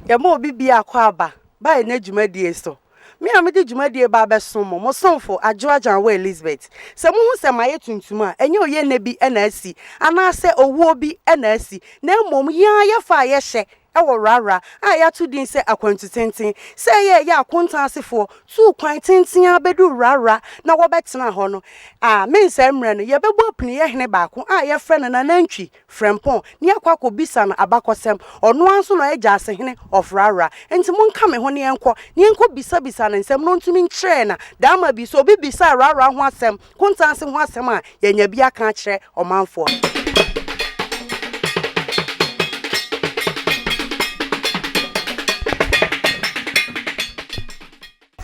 Yɛma obi bia akwaaba ba yɛn dwumadie so. Me a mede dwumadie ba abɛsom mo, mo somfo, Adwo Agyanwoɔ Elizabeth. Sɛ mohu sɛ mayɛ tuntum a, ɛnyɛ oyiennɛ bi na asi, anaasɛ owuo bi na asi, na mmom yɛn ara yɛfa a yɛhyɛ wɔ Rara a yɛato din sɛ Akwantu Tenten. Sɛ ɛyɛ a ɛyɛ a akonta asefoɔ tuu kwan tenten ara bɛduu Rara na wɔbɛtenaa hɔ no a, me nsɛe mmerɛ no, yɛbɛbɔ apiniyɛ hene baako a yɛfrɛ no Nanantwi. Frempong, ne yɛakɔ akɔbisa no abakɔsɛm. Ɔno ara nso na ɔyɛ Gyasehene of Rarra. Enti monka me ho na yɛnkɔ, na yɛnkɔbisabisa no nsɛm, na ɔntumi nkyerɛ na Daama bi. Sɛ obi bisa Rarra ho asɛm, Kontansi ho asɛm a, yɛanya bi aka akyerɛ ɔmanfoɔ.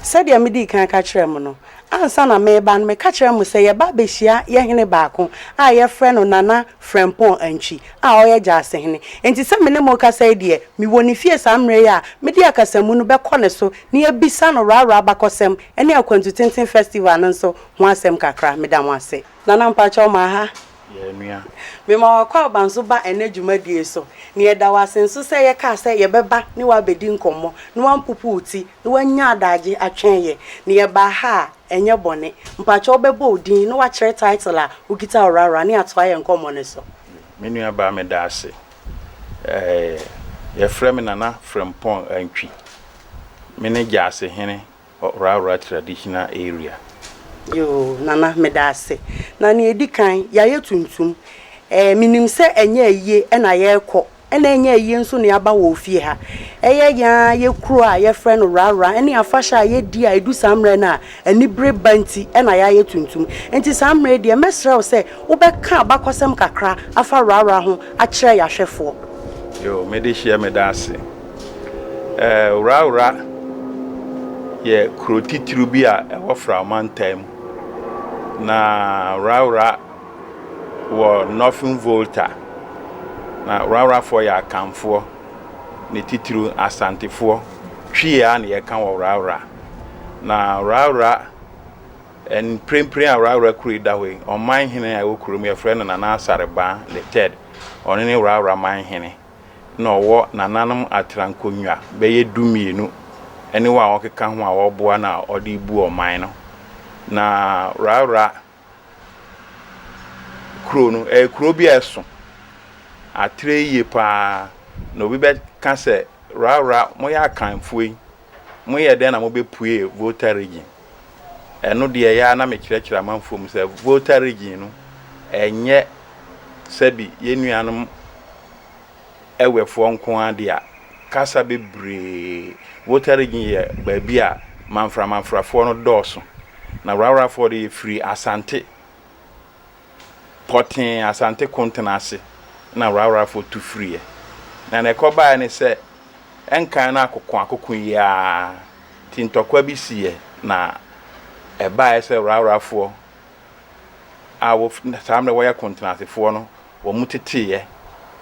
Sɛdeɛ medii kan ka kyerɛɛ mo no, ansa na mereba no, meka kyerɛɛ mo sɛ yɛba abɛhyia yɛn hene baako a yɛfrɛ no Nana Frɛmpɔn Antwi a ɔyɛ Gyasehene. Enti sɛ me ne mo rekasa yi deɛ, mewɔ ne fie saa mmerɛ yi a mede akasamu no bɛkɔ ne so na yɛabisa no Rara abakɔsɛm ne Akwantutenten Festival no nso ho asɛm kakra. Meda mo ase. Nana mpakyɛw ma ha yɛn nua. Mema wo akwaaba nso ba ɛnnɛ dwumadie so, na yɛda wo ase nso sɛ yɛkaa sɛ yɛbɛba ne wo abɛdi nkɔmmɔ na woampopo wo ti na woanya adagye atwɛn yɛn, na yɛbaa ha a, ɛnyɛ bɔne. Mpakyɛ wobɛbɔ wo din na woakyerɛ title a wokita Ɔwrawra ne atoa yɛn nkɔmmɔ no so. Me nua baa meda ase. Ɛɛɛ yɛfrɛ me Nana Frimpong Antwi. Mene Gyasehene. Ɔraaraa traditional area. Yoo Nana medaase. Na nea edi kan, yɛayɛ tuntum. Ɛɛ menim sɛ ɛnyɛ ayie na yɛrekɔ na ɛnyɛ ayie nso na yɛaba wɔ ofie ha. Ɛyɛ yɛn ara yɛn kuro a yɛfrɛ no Raaraa ne afahyɛ a yɛdi a ɛdu saa mmerɛ no a anibere ba nti na yɛayɛ tuntum. Nti saa mmerɛ yi deɛ mɛsrɛ wo sɛ wobɛka abakɔsɛm kakra afa Raaraa ho akyerɛ yɛn ahwɛfoɔ. Yoo medehyɛ medaase. Wrawra yɛ kuro titiriw bi a ɛwɔ Fra Mantam mu, na Wrawra wɔ Northern Volta. Na Wrawrafoɔ yɛ Akanfoɔ, ne titiriw Asantefoɔ. Twi ara na wɔka wɔ Wrawra. Na Wrawra, mprempren a Wrawra kuro yi da hɔ yi, ɔmanhene a ɛwɔ kurom yi, wɔfrɛ no Nana Asare Baa the Third. Ɔno ne Wrawra manhene. na ɔwɔ nananom atra nkonnwa bɛyɛ du mmienu ne wɔn a wɔkeka ho a wɔboa no a ɔde rebu ɔman no. Na Rawra kuro no, ɛyɛ kuro bi a ɛso atere yie pa ara, na obi bɛka sɛ, Rawra, moyɛ Akanfoɔ yi, moyɛɛ dɛn na mobɛpuee Volta Region? Ɛno deɛ ɛyɛ ara na mekyerɛkyerɛ amanfoɔ mu sɛ Volta Region no ɛnyɛ sɛbi yɛn nuanom Ewefoɔ nko ara dea. Kasa bebree, Volta Region yɛ baabi a Manfra Manfrafoɔ no dɔɔso. Na Wrawrafoɔ deɛ yɛfiri Asante. pɔtee Asante Kontena ase na Rawrafoɔ tu firiiɛ. Na deɛ ɛkɔbaeɛ ne sɛ, nkan no akokoakoko yi ara nti ntɔkwa bi siiɛ na ɛbaeɛ sɛ Rawrafoɔ a wɔfiri saa mmerɛ wɔyɛ Kontenasefoɔ no wɔteteeɛ.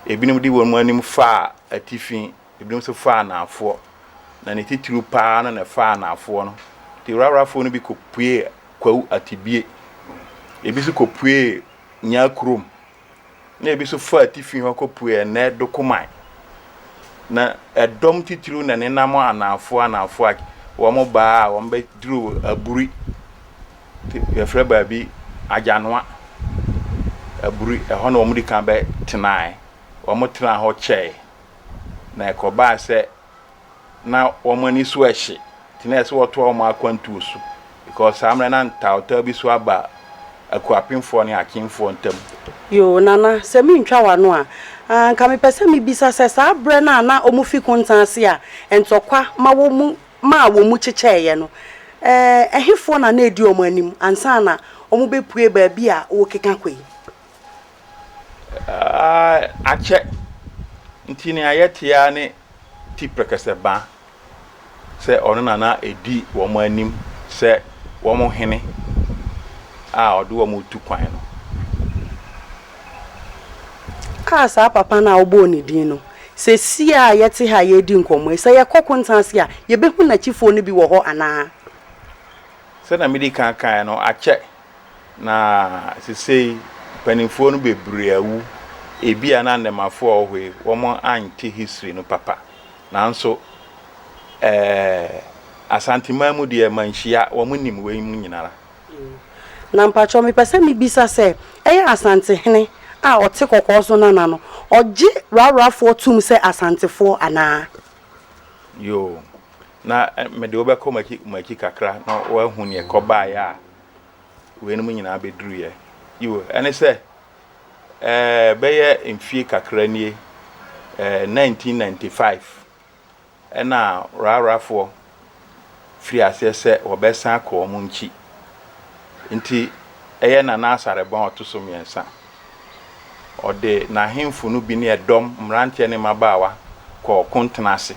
Ebinom de wɔn anim faa atifi Ebinom nso faa anaafoɔ, na ne titiriw pa ara no na ɛfaa anaafoɔ no. Enti Rawrafoɔ no bi kɔpuee Kwawu Atibie, ebi nso kɔpuee Nyaa kurom, na ebi nso faa atifi hɔ kɔpuee ɛnnɛ Dokoman. Na ɛdɔm titiriw na ɛnenam anaafoɔ anaafoɔ a wɔn baa a wɔn bɛduruu Aburi, te yɛfrɛ baabi Agyanoa, Aburi, ɛhɔ na wɔn di kan bɛtenae. Wɔn tenaa hɔ kyɛe. Na ɛkɔbaa sɛ na wɔn ani so hye nti na ɛsɛ sɛ wɔtoa wɔn akwantuo so because saa mmerɛ na ntawtaw bi so aba Akuapemfoɔ ne Akyemfoɔ ntam. Yoo Nana, sɛ mentwa w'ano a, anka mepɛ sɛ mebisa sɛ saa berɛ no a na wɔfi Kontan ase a ntɔkwa ma wɔn mu maa wɔn mu kyekyɛeɛ no, ɛhefoɔ na na ɛdi wɔn anim ansa na wɔbɛpue baabi a worekeka kɔ yi? akyɛ nti nea yɛte ara ne ti prɛkɛsɛ ba sɛ ɔno na na ɛdi wɔn anim sɛ wɔn hene a ɔde wɔn retu kwan no. A saa papa no a wɔbɔɔ ne din no, seesei a yɛte ha a yɛredi nkɔmmɔ yi, sɛ yɛkɔ Kontan ase a, yɛbɛhu n'akyifoɔ no bi wɔ hɔ anaa? Sɛdeɛ mede kan kaeɛ no, akyɛ. Na sesei mpanyimfoɔ no bebree awu. Ebia na nnɛmafoɔ a wɔwɔ hɔ yi, wɔante history no papa. Nanso ɛɛ Asanteman mu deɛ manhyia, wɔnim wei mu nyinara. Na mpakyɛw mepɛ sɛ mebisa sɛ, ɛyɛ Asantehene a ɔte kɔkɔɔ so nana no, ɔgye Rarrafoɔ tom sɛ Asantefoɔ anaa? Yoo. Na mede wo bɛkɔ mo akyi kakra na woahu nea ɛkɔbaeɛ a weinom nyinaa bɛduruiɛ. Yiw, ɛne sɛ, ɛɛ, bɛyɛ mfie kakra nie, ɛɛ, 1995, ɛna Rarafoɔ firii aseɛ sɛ wɔbɛsan akɔ wɔn nkyi. Enti ɛyɛ Nana Asare Bɔn a ɔto so mmiɛnsa. Ɔde n'ahemfo no bi ne ɛdɔm, mmeranteɛ ne mmabaawa, kɔɔ ɔko ntena ase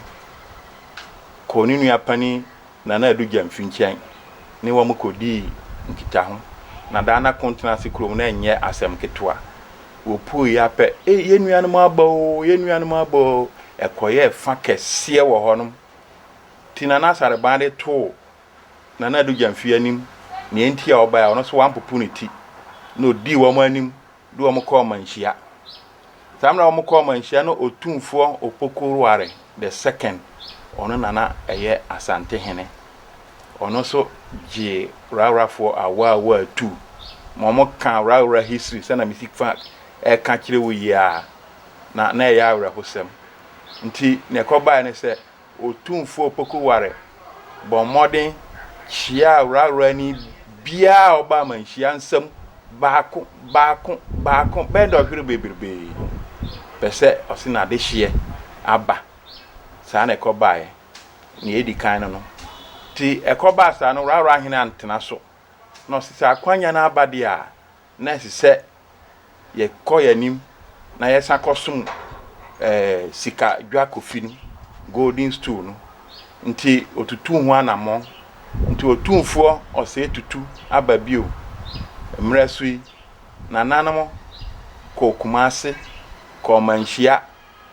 kɔɔ ne nua panin Nana Adu Gyamfi nkyɛn ne wɔn kɔdii nkitaho. Na daa na ko ntena ase kurom no nyɛ asɛm ketewa. Wɔpueeɛ ara pɛ, Ei, yɛn nuanom aba oo, yɛn nuanom aba oo! Ɛkɔyɛɛ fa kɛseɛ wɔ hɔnom. Enti Nana Asare Ban de too Nana Addo Gyamfi anim nea enti a ɔbae a ɔno nso wampopo ne ti na odii wɔn anim de wɔn kɔɔ ɔmanhyia. Saa mmerɛ a wɔkɔɔ ɔmanhyia no Otumfoɔ Opoku-Ware the second, ɔno na na ɛyɛ Asante hene, ɔno nso gyee Rawrafoɔ awaawa atuu ma wɔkaa Rawra history sɛnea mesi fa ɛka kyerɛ wo yi ara na na ɛyɛ awerɛhosɛm nti nea ɛkɔbaeɛ ne sɛ Otumfoɔ Pokuware bɔɔ mmɔden kyiaa wuraworani biara a ɔbaa amanhyia nsam baako baako baako bɛyɛ dɔhwere bebrebe pɛ sɛ ɔse n'adehyeɛ aba. Saa na ɛkɔbaeɛ. Nea ɛdi kan no no. Nti ɛkɔbaa saa no, wuraworahene antena so na ɔse sɛ akwanya no aba deɛ a, na ɛsɛ sɛ yɛkɔ yɛn anim na yɛsan kɔsom ɛɛ eh, sika dwakofi no golden stool no nti otutu ho anammɔn nti otumfoɔ ɔsɛe tutu aba bio mmerɛ so yi nananom kɔɔ kumase kɔɔ manhyia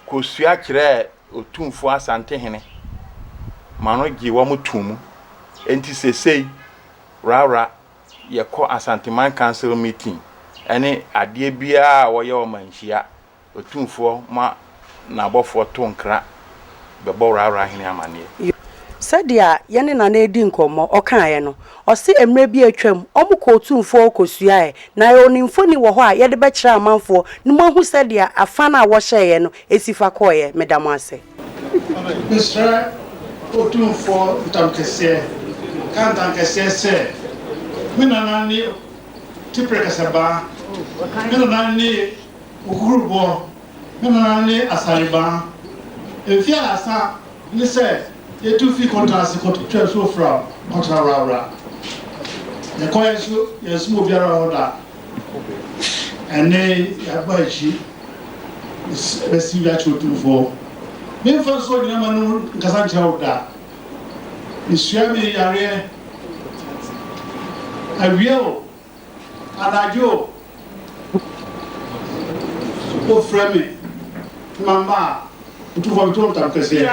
kɔsua kyerɛɛ otumfoɔ asantehene ma no gye wɔn too mu nti sesei wrawra yɛkɔ Asanteman Council meeting ɛne adeɛ biara a wɔyɛ ɔmanhyia, Otumfoɔ ma n'abɔfoɔ to nkra bɛbɔ Wraawraahene amaneɛ. Sɛdeɛ yɛne Nana redi nkɔmmɔ, ɔkaeɛ no, ɔse mmerɛ bi a atwam, wɔkɔɔ Otumfoɔ hɔ kɔsuaeɛ, na yɛwɔ ne mfoni wɔ hɔ a yɛde bɛkyerɛ amanfoɔ na moahu sɛdeɛ afã no a wɔhyɛeɛ no Esi fa kɔeɛ, meda mo ase. Mesrɛ Otumfoɔ Ntamkɛseɛ, ka Ntankɛseɛ sɛ, Me nana ne Tipre Kasabaa, me nana ne Okukuruboɔ, me nana ne Asarebaa. Mfeɛ ahaasa ne sɛ yɛtu firi Konta ase kɔtwaa nsuo fra Kɔtra Wrawra. Yɛkɔeɛ nso, yɛansom obiara wɔ hɔ da. Ɛnde yɛaba akyi bɛsi dwa kyerɛ Otumfoɔ. Me mfa nsuo nyina m'anom nkasa nkyerɛ wo da. Mesua me yareɛ awia o, anadwo o, wofrɛ me na mamba a, Otumfoɔ meto ntam kɛseɛ.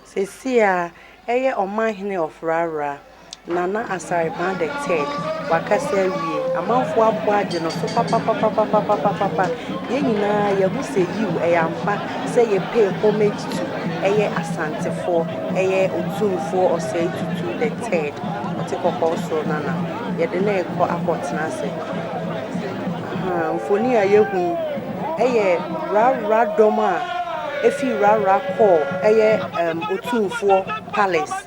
Seesei a ɛyɛ Ɔmanhene of Rara, Nana Asarepaa the Third, wakasa awie. Amanfoɔ abɔ agye no so papapapapapapapapa. Yɛn nyinaa yɛahu sɛ yiw, ɛyɛ ampa sɛ yɛpay homage to ɛyɛ Asantefoɔ, ɛyɛ Otumfoɔ Osei Tutu the Third, Ɔte Kɔkɔɔ Soro Nana. Yɛde no rekɔ akɔtena ase. Ahaa, mfoni a yɛahu yi, ɛyɛ Rara dɔm a. efi Rara kɔɔ ɛyɛ ɛɛm Otumfoɔ Palace.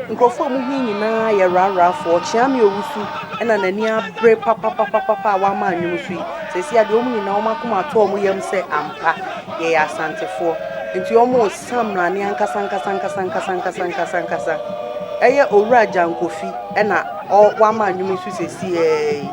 Nkurɔfoɔ a wɔwɔ he nyinaa yɛ Rarafoɔ. Kyeame Owusu na n'ani abere papapapapa a wama nnwom so yi. Seesei ara deɛ wɔn nyinaa wɔn akoma ato wɔn yam sɛ ampa yɛyɛ Asantefoɔ. Nti wɔresa mmrane ankasankasankasankasankasankasankasa. Ɛyɛ Owura Gyan Kofi na ɔ wama nnwom yi so seesei ara yi.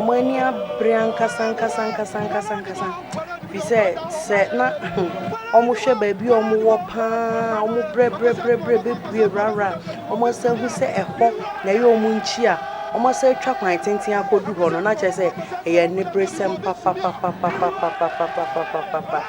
Wɔn ani abere ankasa ankasa ankasa ankasa ankasa. Efisɛ sɛ na wɔhwɛ baabi a wɔwɔ paa, wɔbrɛbrɛbrɛbrɛ bebue wurawura a, wɔsan hu sɛ ɛhɔ na ɛyɛ wɔn nkyia a, wɔsan atwa kwan tenten akodu hɔ no, na kyerɛ sɛ ɛyɛ aniberesɛm papapapapapapapapapapa.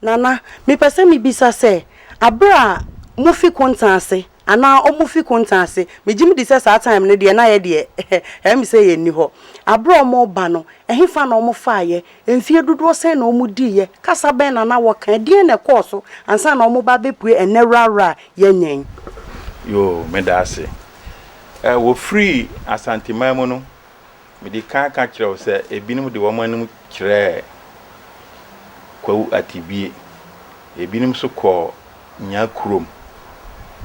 Nana, mepɛ sɛ mebisa sɛ, aberɛ a mofi Konta ase anaa ɔmo fi Konta ase, megye medi sɛ saa time no deɛ na yɛdeɛ ɛyɛ me sɛ yɛnni hɔ, aberɛ a ɔmo reba no, ɛhefa na ɔmo faeɛ Mfeɛ dodoɔ sɛn na wɔdiiɛ? Kasa bɛn na na wɔka? Ɛdeɛn na ɛkɔɔ so ansa na wɔba abɛpue ɛnnɛ Rara yɛnyɛn? Yoo, meda ase. Ɛ, wɔfiri Asanteman mu no, mede kan ka kyerɛɛ wo sɛ ebinom de wɔn anom kyerɛɛ Kwawu Atibie, ebinom nso kɔɔ Nyaa kurom.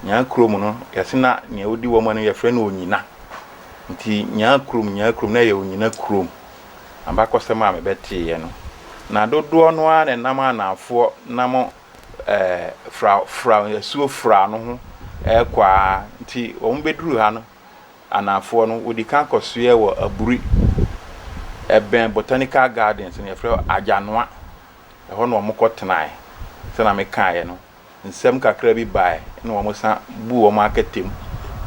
Nyaa kurom no, yɛse na nea ɔdi wɔn anim yɛfrɛ no Onyina. Nti Nyaa kurom, Nyaa kurom, na ɛyɛ Onyina kurom. Abakɔsɛm a mebɛteeɛ no, na dodoɔ no ara na ɛnam a nnamfoɔ nam ɛɛ fra fra asuo fra no ho rekɔ ara nti wɔn bɛduruu ha no anamfoɔ no wɔdi kan kɔsoɛɛ wɔ Aburi ɛbɛn Botanical Gardens no yɛfrɛ Agyanoa ɛhɔ na wɔn kɔ tenaeɛ sɛdeɛ mekaeɛ no nsɛm kakra bi baeɛ na wɔn san buu wɔn akɛtɛm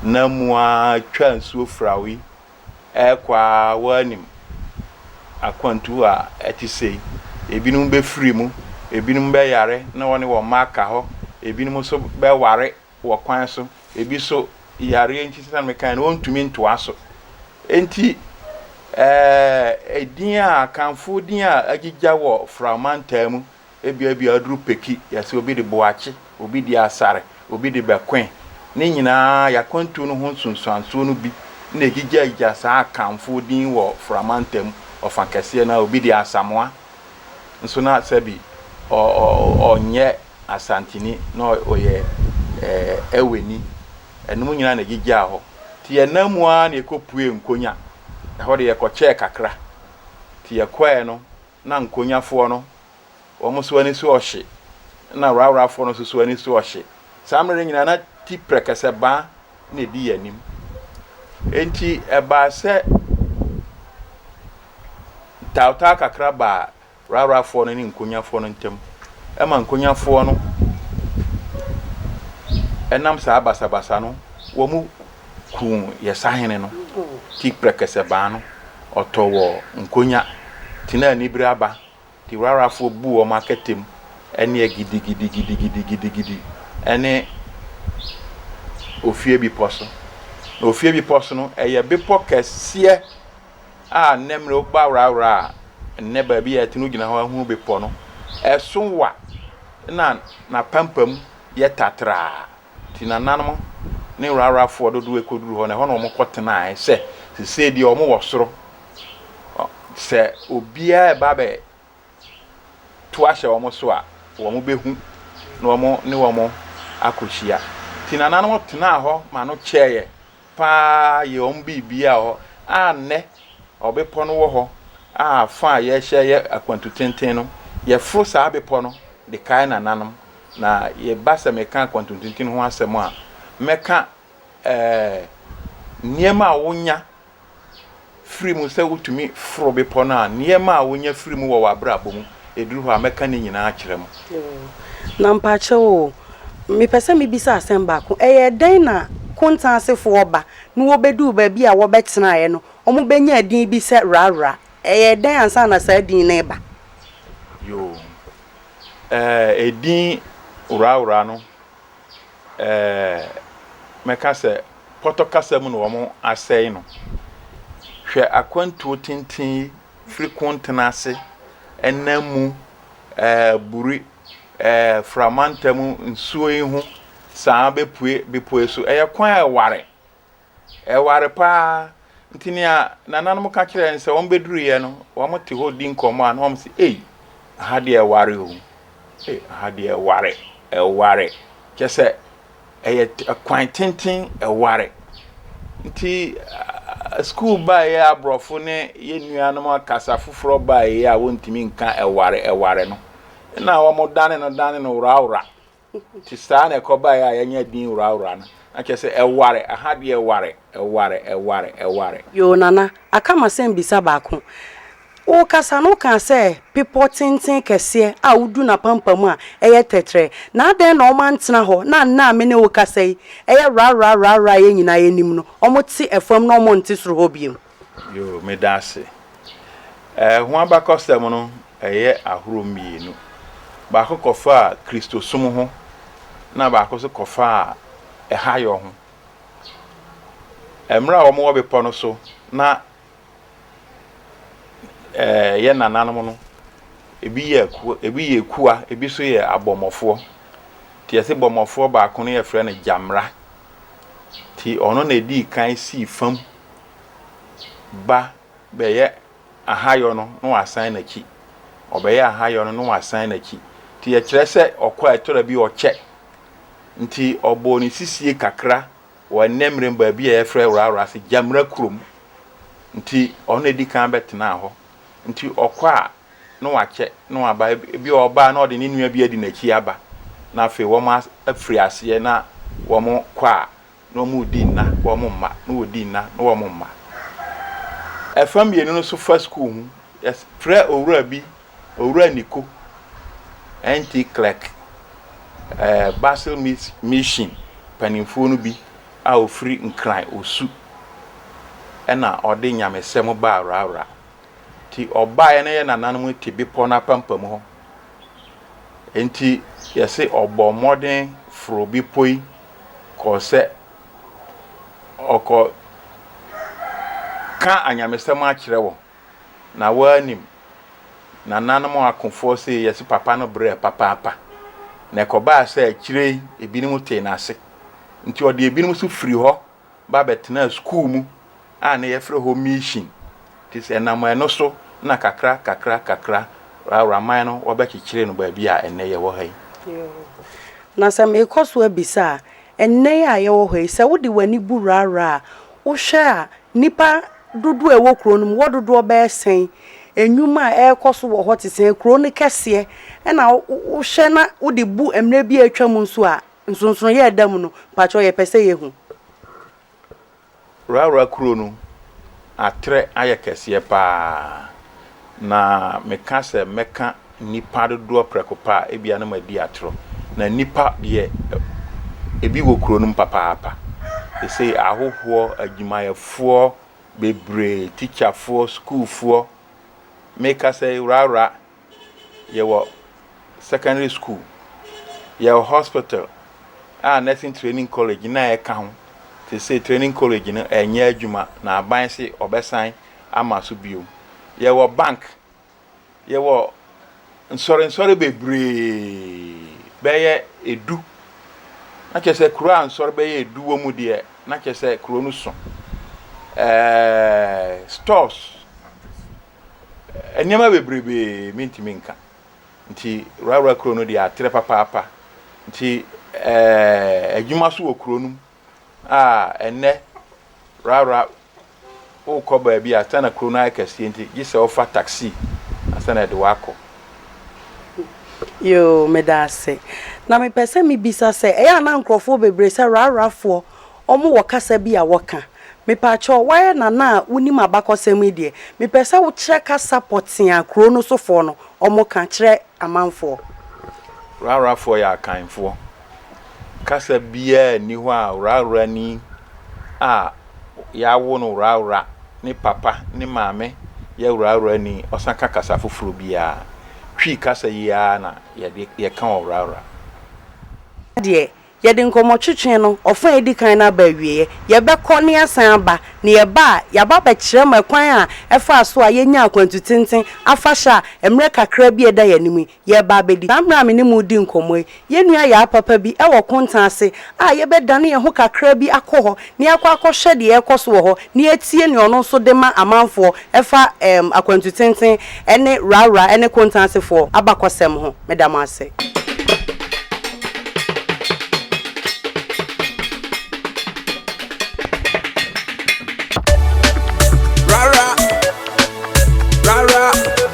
na mu ara twaa nsuo fra yi ɛrekɔ ara woanim akwantu a ɛte sei, ebinom bɛfiri mu, ebinom bɛyare na wɔne wɔn mma aka hɔ, ebinom nso bɛware wɔ kwan so, ebi nso yareɛ nti sɛdeɛ mekae no wɔntumi ntoa so. Enti ɛɛ edin a akanfo din a agyigya wɔ Fra mantam mu Ebia bi a aduru peki, yɛse obi de boakye, obi de asare, obi de bɛkoe. Ne nyinaa y'akwantuo no ho nsunsuansoɔ no bi na ɛgyigyagyigya saa Akanfoɔ din wɔ Fra mantam ɔfa kɛseɛ no ara. Obi de Asamoah nso na sɛbi ɔnyɛ Asanteni na ɔyɛ Eweni. Ɛnom nyinaa na ɛgyigyaa hɔ. Nti yɛnam mu ara na yɛkɔpuee Nkonya. Ɛhɔ de yɛkɔkyɛɛ kakra. Nti yɛkɔɛɛ no. na nkonyafoɔ no, wɔn so ani so ɔhye, ɛna raorafoɔ no nso so ani so ɔhye. Saa mmerɛ no nyinaa na ti prɛkɛsɛ baa na ɛdi yɛn anim. Enti ɛbaa sɛ ntawtaa kakra baa raorafoɔ no ne nkonyafoɔ no ntam, ɛma nkonyafoɔ no ɛnam saa basabasa no wɔn kuu yɛ sahene no ti prɛkɛsɛ baa no ɔtɔ wɔ nkonya tenaa anibere aba te rarafoɔ buu wɔn akatam ɛneɛ gidigidigidigidigidigidi ɛne ofie bepɔ so na ofie bepɔ so no ɛyɛ bepɔ kɛseɛ a nnɛ mmerɛ woba rara a nnɛ baabi a ɛte no gyina hɔ ahunu bepɔ no ɛso wa na napampam yɛ tatraa Nti nananom ne wrawrafoɔ dodoɔ ɛkɔduru hɔ no, ɛhɔ na wɔkɔ tenaeɛ, sɛ sesei deɛ wɔn wɔ soro, sɛ obiara ɛba bɛ to ahyɛ wɔn so a, wɔn bɛhu na wɔn ne wɔn akɔhyia. Nti nananom tenaa hɔ ma no kyɛeɛ. paa yɛ wɔn biribiara wɔ hɔ a nnɛ ɔbepɔ no wɔ hɔ a fa a yɛrehyɛ yɛ akwantu tenten no, yɛforo saa bepɔ no de kae nananom. Na yɛba sɛ meka akwantu tenten ho asɛm a, mɛka ɛɛ nneɛma a wonya firi mu sɛ wotumi foro bepɔ no a, nneɛma a wonya firi mu wɔ w'abrabɔ mu, ɛduru hɔ a, mɛka ne nyinaa akyerɛ mo. Oh, na mpakyɛw o, mepɛ sɛ mebisa asɛm baako, ɛyɛ dɛn na Konta asefoɔ ba na wɔbɛduu baabi a wɔbɛtenaeɛ no, wɔbɛnyaa din bi sɛ Rarra? Ɛyɛɛ dɛn ansa na saa din no reba? Yoo, eh, edin Rarra no ɛɛ, mɛka sɛ pɔtɔ kasa mu na wɔasɛe no. Hwɛ akwantuo tenten yi firi Kontena ase, ɛnam mu, ɛɛ, Buri, ɛɛ, Framanta mu nsuo yi ho saa ara bɛpue bepɔ yi so. Ɛyɛ kwan a ɛware. Ɛware paa. Nti nea nananom ka kyerɛ yɛn sɛ wɔbɛduruiɛ no, wɔte hɔ di nkɔmmɔ a na wɔn se, ei, aha deɛ ɛware o. Ei, aha deɛ ɛware, ɛware. Kyɛ sɛ ɛyɛ kwan tenten ɛware. Nti sukuu baeɛ aborɔfo ne yɛn nuanom kasa foforɔ baeɛ a wɔntumi nka ɛware, ɛware no. Na wɔdane no dane no worawora. nti saa na ɛkɔbaeɛ a yɛanya din Wurawura no, na kyerɛ sɛ ɛware, aha deɛ ɛware, ɛware, ɛware, ɛware. Yoo Nana, aka m'asɛm bisa baako. Wo kasa no wo kaa sɛ bepɔ tenten kɛseɛ a wo du n'apampam a ɛyɛ tɛtrɛ, na adɛn na wɔn antena hɔ na nnɛ a me ne wo kasa yi ɛyɛ wurawurawurawura a yɛn nyinaa yɛnim no wɔn te ɛfam na wɔn nte soro hɔ biom? Yoo, meda ase. Ɛɛ, ho abakɔsɛm no yɛ ahorow mmienu. Baako kɔfaa Kristosom ho, ɛnna baako nso kɔfaa ɛhayɔ ho. Mmerɛ a wɔwɔ bepɔ no so na ɛɛ yɛn nananom no, ebi yɛ aku ebi yɛ akua, ebi nso yɛ abɔmmɔfoɔ. Nti yɛse bɔmmɔfoɔ baako no yɛfrɛ no Gyamra. Nti ɔno na ɛdii kan sii fam ba bɛyɛ ahayɔ no na wasan n'akyi, ɔbɛyɛ ahayɔ no na wasan n'akyi. Nti ɛkyerɛ sɛ ɔkɔ a ɛtɔ da bi ɔkyɛ. Nti ɔbɔɔ ne sisie kakra wɔ Ɛnnɛmmerem baabi a yɛfrɛ Rawra ase, Gyamina kurom. Nti ɔno na ɛdi kan bɛtenaa hɔ. Nti ɔkɔ a na wakyɛ na waba, ebi a ɔba a na ɔde ne nua bi adi n'akyi aba na afei wɔafiri aseɛ na wɔkɔ a na wɔredi nna na wɔn mma na wɔredi nna na wɔn mma. Ɛfa mmienu no so fa sukuu ho. Yɛfrɛ owura bi Owura Niko, NT clerk, eh, Basel Mission mpanimfoɔ no bi a ɔfiri Nkran Osu ɛna ɔde nyamesɛm baa Rawra. Nti ɔbaeɛ na yɛ nananom te bepɔ no apampam hɔ. Nti yɛse ɔbɔɔ mmɔden foroo bepɔ yi kɔɔ sɛ ɔrekɔka anyamesɛm akyerɛ wɔn, na wɔannim. Nananom akofoɔ see Yese papa no brɛɛ papaapa, na ɛkɔbaa sɛ akyire yi ebinom tee n'ase. Enti ɔde ebinom nso firii hɔ. ba bɛtenaa skuul mu a na yɛfrɛ hɔ Miihyin, te sɛ ɛnam ɛno so na kakra kakra kakra Auraman no wɔbɛkyekyeree no baabi a ɛnnɛ yɛwɔ ha yi. Na sɛ meekɔ so abisa a, ɛnnɛ yi a yɛwɔ hɔ yi, sɛ wode w'ani bu Rara a, wohwɛ a nnipa dodoɔ a ɛwɔ kuro no mu, wɔ dodoɔ bɛyɛ sɛn? Nnwuma a ɛrekɔ so wɔ hɔ te sɛn? Kuro no kɛseɛ na wohwɛ na wode bu mmerɛ bi a atwam nso a, Nsonsonoeɛ a ɛda mu no, mpakyɛw yɛpɛ sɛ yɛhu. Rara kuro no atrɛ ayɛ kɛseɛ paa na meka sɛ mɛka nnipa dodoɔ prɛko pɛ a ebia na madi atorɔ. Na nnipa deɛ ebi wɔ kuro no mu papaapa. Seesei ahohoɔ, adwumayɛfoɔ bebree, tikyafoɔ, sukuufoɔ, mekasa yi rara yɛwɔ secondary school, yɛwɔ hospital a nursing training college na ɛka ho. Sesei training college no ɛnyɛ adwuma na aban se ɔbɛsan ama so bio. Yɛwɔ bank, yɛwɔ nsɔre nsɔre bebree bɛyɛ edu. Na kyerɛ sɛ kuro a nsɔre bɛyɛ edu wɔ mu deɛ na kyerɛ sɛ kuro no so. Ɛɛɛ stores. Nneɛma bebrebe mentumi nka nti Rara kuro no deɛ atrɛ papaapa nti eh, adwuma so wɔ kuro no mu a ɛnɛ Rara wokɔ baabi a sana kuro no ayɛ kɛseɛ nti gye sɛ wofa taxi ansa na ɛde wakɔ. Yoo, meda ase. Na mepɛ sɛ mebisa sɛ, ɛyɛ a na nkurɔfoɔ bebree sɛ Rarafoɔ Ɔmo wɔ kasa bi a wɔka. Mepaakyɛw, woayɛ nana a wonim abakɔsɛm yi deɛ, mepɛ sɛ wokyerɛ kasa pɔtee a kuro no sofoɔ no ɔmo ka kyerɛ amanfoɔ. Wrahwrafoɔ yɛ Akanfoɔ. Kasa biara nni hɔ a wrahwrani a yɛawo no wrahwra, ne papa, ne maame yɛ wrahwrani, ɔsan ka kasa foforɔ biara. Twi kasa yi ara na yɛde, yɛka wɔ wrahwra. Ɛha deɛ, Yɛde nkɔmmɔtwetwe no ɔfã a edi kan no aba awieeɛ. Yɛbɛkɔ na yɛasan aba, na yɛba a, yɛaba abɛkyerɛ mo ɛkwan a ɛfaa so a yɛnyaa akwantu tenten afahyɛ a mmerɛ kakra bi a ɛda yɛn anim yi, yɛreba abɛdi. Saa mmerɛ a me ne mo redi nkɔmmɔ yi, yɛn nua Yaa papa bi wɔ Konta ase a yɛbɛdane yɛn ho kakra bi akɔ hɔ na yɛakɔ akɔhwɛ deɛ ɛrekɔ so wɔ hɔ, na yɛatie nea ɔno nso de ma amanfoɔ ɛfa ɛɛm akwantu tenten ɛne Rawra ɛne Kontansefoɔ abakɔsɛm ho. Meda mo ase.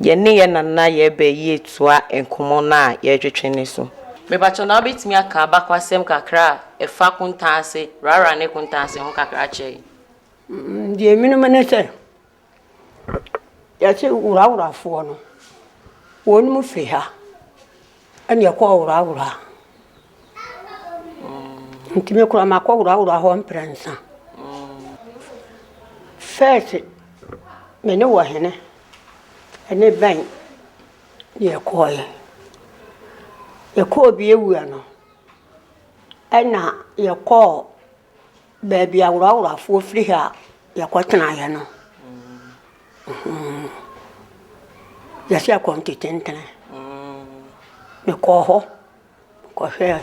Yɛne yɛn nana yɛ bɛ yi atoa nkɔmmɔ no a yɛretwetwe no so. Mepakyɛw, na wobetumi aka abakɔasɛm kakra a ɛfa kontan ase rara ne kontan ase ho kakra akyerɛ yɛn? Deɛ menim ne sɛ, yɛse Wuraworafoɔ no, wɔnom firi ha. Ɛna ɛkɔ ɔworɔaworɔa nti me koraa makɔ worɔaworɔa hɔ mprɛnsa first me ne wɔ hene ɛne bɛn ne ɛkɔɔɛ yɛkɔɔ bi awua no ɛna yɛkɔɔ. Baabi a woraworafoɔ firi ha a yɛkɔtenaeɛ no, yɛsɛ yɛkɔ Ntetentene. Mekɔɔ hɔ kɔhwɛɛ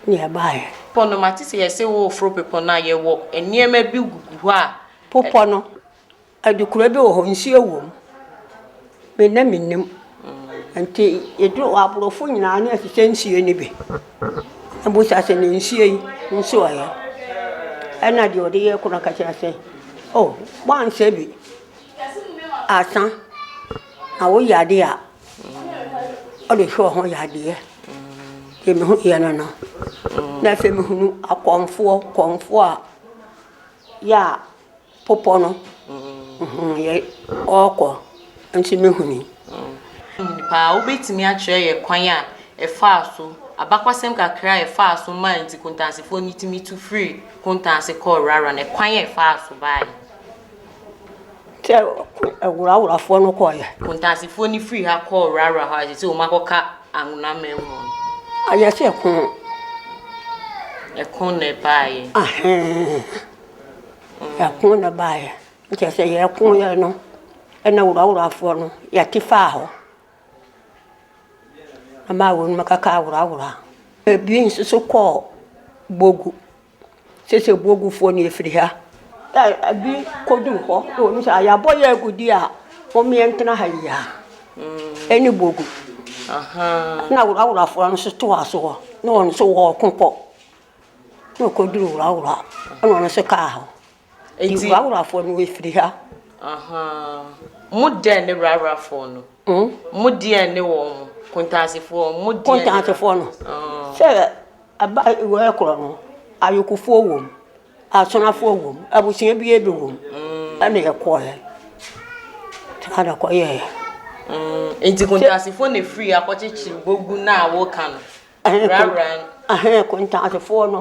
ne ɛbaeɛ. Pɔ no mate sɛ yɛsɛ wɔreforo bepɔ no a yɛwɔ nneɛma bi gugu hɔ a. Popɔ no. Adekora bi wɔ hɔ nsuo wɔ mu me na me nim nti yɛduru hɔ aborɔfo nyinaa na ɛhyehyɛ nsuo no bi na bisa sɛ na nsuo yi nso ɔyɛ ɛna deɛ ɔde yɛ koro no ka kyerɛ sɛ oh woanhyɛ bi ansa na woyɛ adeɛ a ɔde hwɛ ho yadeɛ deɛ me ho yɛ no no na afei mehunu akɔmfoɔ kɔmfoɔ a yɛ a Bepɔ no yɛ ɔɔkɔ nti me huni. Paa wobɛtumi akyerɛ yɛ kwan a ɛfaa so abakɔsɛm kakra a ɛfaa so maa nti kontansefoɔ no tumi tu firii kontanse kɔɔ wrawra no kwan a ɛfaa so baeɛ. Sɛ wrawrafoɔ no kɔɔ yɛ. Kontansefoɔ no firii ha kɔɔ wrawra hɔ a sɛ sɛ wɔn akɔka anwona mɛn mu. Ayɛ sɛ ɛko. Ɛko na ɛbaeɛ. Ahɛn. Ɛko na ɛbaeɛ no kyerɛ sɛ yɛkoeɛ no na woraworafoɔ no yɛte faa hɔ ma wɔn mu kakaa worawora. Ebi nso so kɔɔ Bogu. Sese Bogufoɔ no yɛfiri ha. Ɛ ebi kɔduu hɔ na wɔn sɛ yɛabɔ yɛn agudi a mommɛntena ha yi ara. Ɛne Bogu. Ɛna woraworafoɔ no nso toaa so hɔ na wɔn nso wɔɔko kɔ. na ɔkɔduru wurawura ɛna ɔno nso kaa hɔ nti wurawurafoɔ no wɔfiri ha mo deɛ ne wurawurafoɔ no hmm? mo deɛ ne wɔn mo kontaasefoɔ mo deɛ kontaasefoɔ no ah. sɛ ɛba wɔyɛ korɔ no ayokofoɔ wɔ mu asonafoɔ wɔ mu abusua bi ebi wɔ mu hmm. ɛna ɛkɔɛ saa na ɛkɔyɛɛ hmm. nti kontaasefoɔ na efiri akɔkyekyere bogu na awoka no Ahene Kontantefoɔ no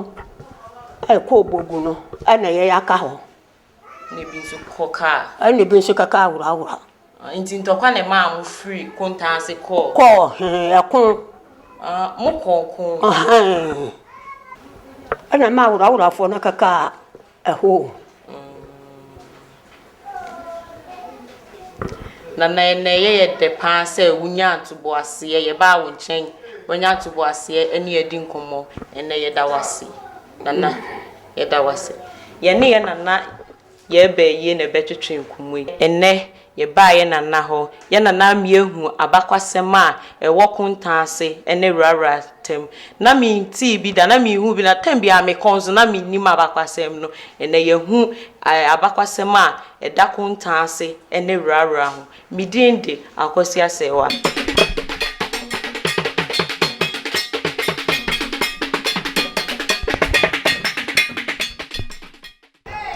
kɔɔ Bogu no na yɛn aka hɔ. Ɛna ebi nso kɔkaa. Ɛna ebi nso kɔkaa Wurowura. Nti ntɔkwa na ɛmaa mo firi Kontanse kɔɔ. Kɔɔ hee ɛko. Mo kɔɔ ko. Ɛna ɛmaa Wurowurafoɔ no kɔkaa. Ɛhɔ o. Nana ɛnɛ ɛyɛ yɛ dɛ paa sɛ wonyaa ntoboaseɛ yɛbaa wo nkyɛn wanya ntoboaseɛ ɛne yɛ adi nkɔmmɔ ɛnɛ yɛda wo ase Nana yɛda wo ase yɛne yɛ Nana yɛɛba ayie na ɛbɛtwetwe nkɔmmɔ yi ɛnɛ Yɛbaa yɛn nana hɔ. Yɛn nana amia hu abakwasɛm a ɛwɔ kontaa ase ne wurawura ntam. Ná mentee bi da, na menhuu bi da. Tɛm biara mekɔ nso, na mennim abakwasɛm no. Ɛnnɛ yɛahu abakwasɛm a ɛda kontaa ase ne wurawura ho. Me din de Akwasi Asɛɛwa.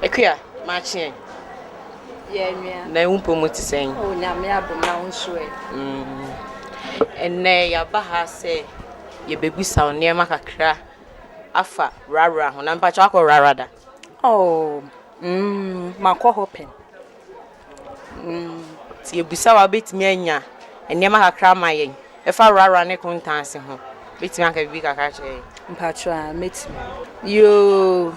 Akua, makye ɛ. Yɛɛ nua. Nnɛ wo mpɔ mu te sɛn? Oh, Nyame adom na wo nso ɛ? Mm. Ɛnnɛ yɛaba ha sɛ yɛbɛbisa wo nneɛma kakra afa Rara ho. Na mpakyɛ wakɔ Rara da? Oh, mm, makɔ hɔ pɛn. Sɛ yɛbisa wo a, wobɛtumi anya nneɛma kakra ama yɛn? Ɛfa Rara ne Kontansi ho, wobɛtumi aka biribi kakra akyerɛ yɛn? Mpakyɛw a, mɛtumi. Yoo,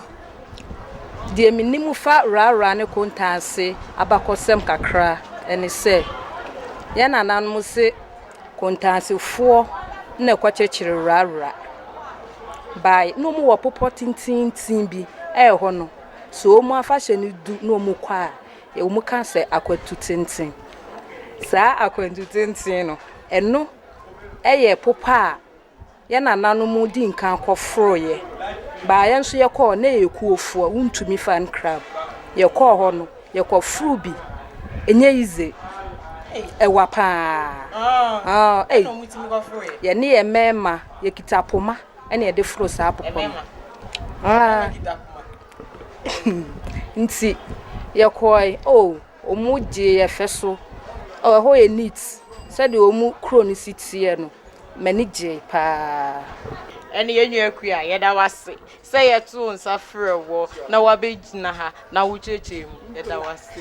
deɛ menim fa Rara ne Kontansi abakɔsɛm kakra ne sɛ, yɛn nananom se Kontansifoɔ na ɛkɔkyekyere Rara baeɛ. Na wɔwɔ bepɔ tententen bi, ɛhɔ no, sɛ wɔn afahyɛ no du na wɔkɔ a, Ewom ka sɛ akwatu tenten. Saa akwantu tenten no, ɛno yɛ popa a yɛn nananom dii nkan kɔforoeɛ baa yɛn nso yɛkɔɔ na ɛyɛ kuofoɔ wontumi fan crab yɛkɔɔ hɔ no yɛkɔforo bi ɛnyɛ yize ɛwa paa ei yɛne yɛn mɛɛma yɛkita poma ɛne ɛde foro saa popa no. Nti yɛkɔɔe, oh, wɔgyee yɛn fɛ so. Oh, ɛhɔ yɛ neat, sɛdeɛ wɔn kuro no si teɛ no, m'ani gyee paa. Ɛne yɛn nua Akua, yɛda wo ase sɛ yɛtoo nsa frɛɛ woɔ na woabɛgyina ha na wokyerɛkyerɛɛ mu. Yɛda wo ase.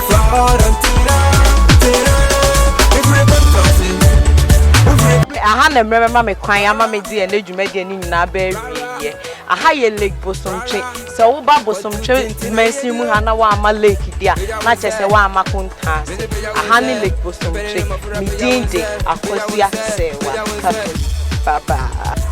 Aha na mmerɛ bɛma me kwan ama me de ɛnɛ dwumadie no nyinaa bɛ awieɛ. Aha yɛ Lake Bosomtwe. Sɛ woba Bosomtwe mansin mu ha na woamma lake di a, na kyerɛ sɛ woamma Kontaase. Aha ne Lake Bosomtwe. Me din de Akosua Serwaa Kato. Bye bye.